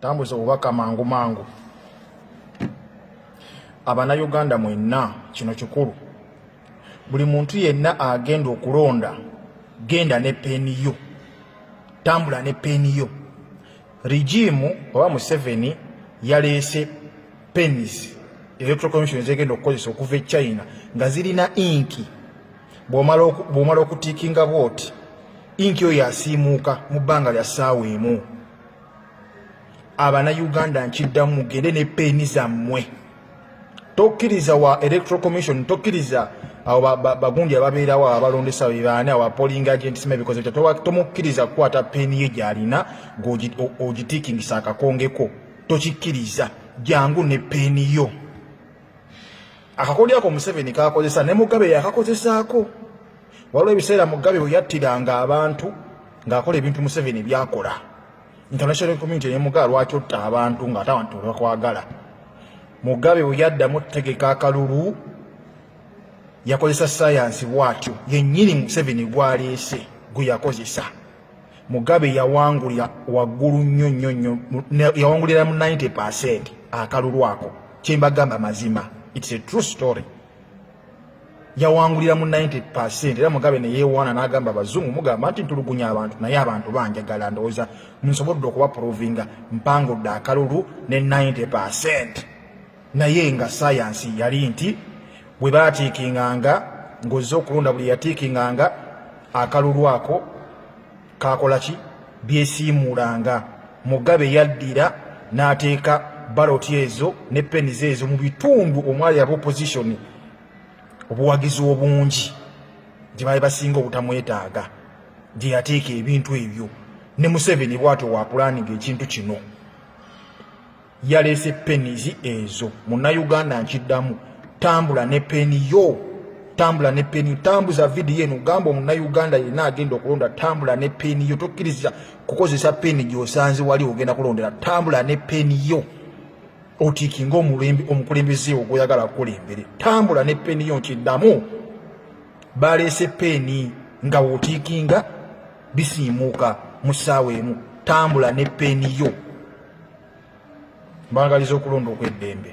Tambuza obubaka mangu mangu. Abanayuganda mwenna kino kikulu. Buli muntu yenna agenda okulonda genda ne peeni yo. Tambula ne peeni yo. Rigimu oba Museveni yaleese penis electoral commission zegenda okukozesa okuva e China nga zirina inki bw'omala okutiikinga bwoti inki oyo asiimuuka mu bbanga lya ssaawa emu abana uganda nkiddamu mugende ne peeni zammwe tokkiriza wa electoral commission tokkiriza awo bagundi ababeerawo abalondesa bebaani awo apoling agents mebikoze bitya tomukkiriza kukwata peeni ye gyalina ng'ogitiikingisa akakongeko tokikkiriza jangu ne peeni yo akakodyo ako museveni kakozesa ne mugabe yakakozesaako waliwo ebiseera mugabe weyattiranga abantu ng'akola ebintu museveni byakola international community ne mugabe lwaki otta abantu ng'ate abantu tebakwagala mugabe weyaddamu otutegeka akalulu yakozesa sayansi bwatyo yennyini museveni gwaleese gwe yakozesa Mugabe yawangulira waggulu nnyo nnyo nnyo, yawangulira mu 90 percent akalulu ako. Kyembagamba mazima, it's a true story. Yawangulira mu 90 percent era Mugabe ne yeewaana n'agamba abazungu mugamba nti ntulugunya abantu naye abantu banjagala ndowooza nsobodde okubaprovinga mpangudde akalulu ne 90 percent. naye nga sayansi yali nti bwe baatiikinganga ng'ozze okulonda buli yatiikinganga akalulu ako kaakola ki byesiimuulanga mugabe yaddira n'ateeka baloti ezo ne penize ezo mu bitundu omwali aba opozisoni obuwagizi obungi gye baali basinga obutamwetaaga gye yateeka ebintu ebyo ne museveni bwatyo waakulaninga ekintu kino yaleese penizi ezo munnayuganda nkiddamu tambula ne peni yo tambula ne peni yo tambuza vidiyo eno gamba omunnayuganda yenna agenda okulonda tambula ne peni yo tokkiriza kukozesa peni gyosanze wali ogenda kulondera tambula ne peni yo otiikinga omukulembeze wo gwoyagala kukulembere tambula ne peni yo nkiddamu baleese peni nga wotiikinga bisiimuuka mu ssaawa emu tambula ne peeni yo mbagaliza okulonda okw'eddembe